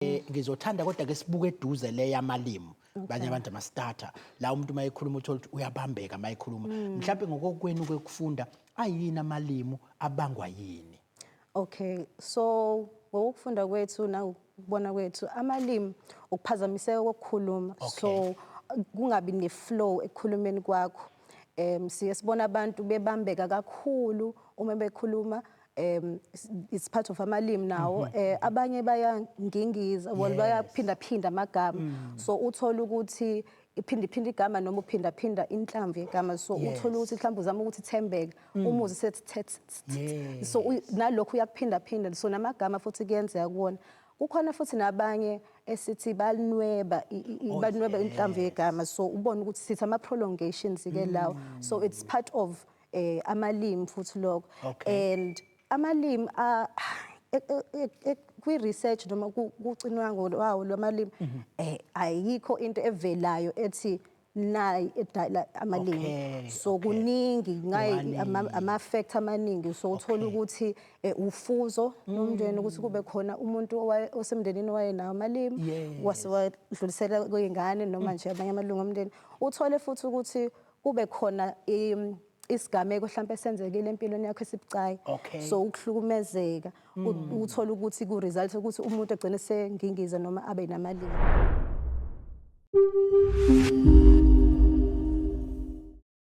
Eh, ngizothanda kodwa ke sibuke eduze le yamalimi banye abantu amastarter la umuntu uma ekhuluma uthola ukuthi uyabambeka uma ekhuluma hmm. mhlawumbe ngokokwenu kwekufunda ayini amalimu abangwa yini okay so ngokufunda kwethu nangokubona kwethu amalimi ukuphazamiseka kokukhuluma so kungabi ne-flow ekukhulumeni kwakho um siye sibona abantu bebambeka kakhulu uma bekhuluma um it's part of amalimi nawo um abanye bayangingiza well Yes. bayaphindaphinda amagama so uthole ukuthi iphindiphinda igama noma uphindaphinda inhlamvu yegama so Yes. uthole ukuthi mhlawumbe uzama ukuthi thembeke umuzi sethi thet Yes. so uy- nalokhu uyakuphindaphinda so namagama futhi kuyenzeka kuwona kukhona futhi nabanye esithi balinweba i- i- i- Oh, balinweba inhlamvu yes. yegama so ubone ukuthi sithi ama-prolongations-ke lawo so it's part of eh amalimi futhi lokho Okay. and amalimi a- e- e- e- e- kwi-research noma ku- kucinwango lwawo lwamalimi Mhm. eh ayikho into evelayo ethi nayi edala amalimi Okay, so okay. kuningi ngayi Wani. ama- ama-factor amaningi so uthola Okay. ukuthi eh, ufuzo Mm. lomndeni ukuthi kube khona umuntu owaye- osemndenini owayenawo amalimi Yes. Mm. wase wadlulisela kwey'ngane noma nje abanye amalungu omndeni uthole futhi ukuthi kube khona isigameko hlampe senzekile empilweni yakho esibucayi okay. so ukuhlukumezeka mm. uthola ukuthi ku result ukuthi umuntu agcine sengingiza noma abe namalimi